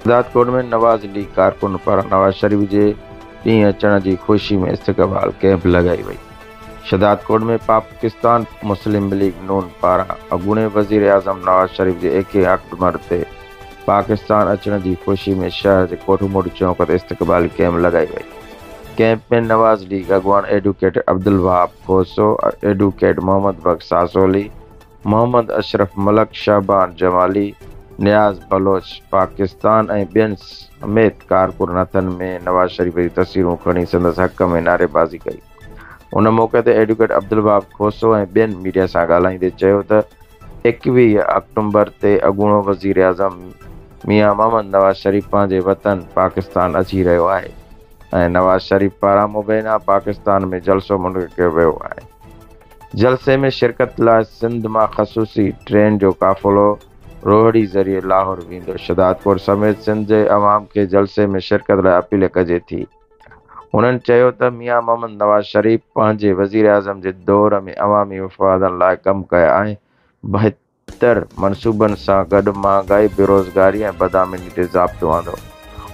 Shahdadkot ۾ Nawaz league ڪارڪن پاران نواز شريف جي ڏينهن اچڻ جي خوشي ۾ استقبال ڪئمپ لڳائي وئي. شهدادڪوٽ ۾ پاڪستان مسلم ليگ نون پاران اڳوڻي وزيراعظم نواز شريف جي ايڪيهه آڪٽومر تي پاڪستان اچڻ جي خوشي ۾ شهر جي ڪوٺ موٽ چونڪ تي استقبالي ڪئمپ لڳائي وئي. ڪئمپ ۾ نواز ليگ اڳواڻ ايڊوڪيٽ عبدالوهاب کوسو، ايڊوڪيٽ محمد بخش ساسولي، محمد اشرف ملڪ، شهبان جمالي، نياز بلوچ، پاڪستان ۽ ٻين سميت ڪارڪن هٿن ۾ نواز شريف جون تصويرون کڻي سندس حق ۾ نعريبازي ڪئي. ان موقعي تي ايڊووڪيٽ عبدالوهاب کوسو ۽ ٻين ميڊيا سان ڳالهائيندي چيو ته ايڪويهه آڪٽومبر تي اڳوڻو وزيراعظم ميان محمد نواز شريف پنهنجي وطن پاڪستان اچي رهيو آهي ۽ نواز شريف پاران مبينا پاڪستان ۾ جلسو منعقد ڪيو ويو آهي. جلسي ۾ شرڪت لاء سنڌ مان خصوصي ٽرين جو قافلو روهڙي ذريعي لاهور ويندو، شھدادپور سميت سنڌ جي عوام کي جلسي ۾ شرڪت لاء اپيل ڪجي ٿي. هنن چيو ته ميان محمد نواز شريف پنهنجي وزيراعظم جي دور ۾ عوامي مفادن لاء ڪم ڪيا ۽ بهتر. بهتر منصوبن سان گڏ مهانگائي، بيروزگاري ۽ بدامني تي ضابطو آندو.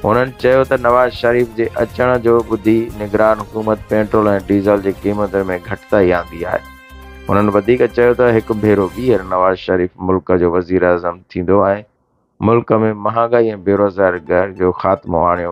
هنن چيو ته نواز شريف جي اچڻ جو ٻڌي نگران حڪومت پيٽرول ۽ ڊيزل جي قيمتن ۾ گهٽتائي آندي آهي. هنن وڌيڪ چيو ته هڪ ڀيرو ٻيهر نواز شريف ملڪ جو وزيراعظم ٿيندو ۽ ملڪ ۾ مهانگائي ۽ بيروزگاري جو خاتمو آڻيو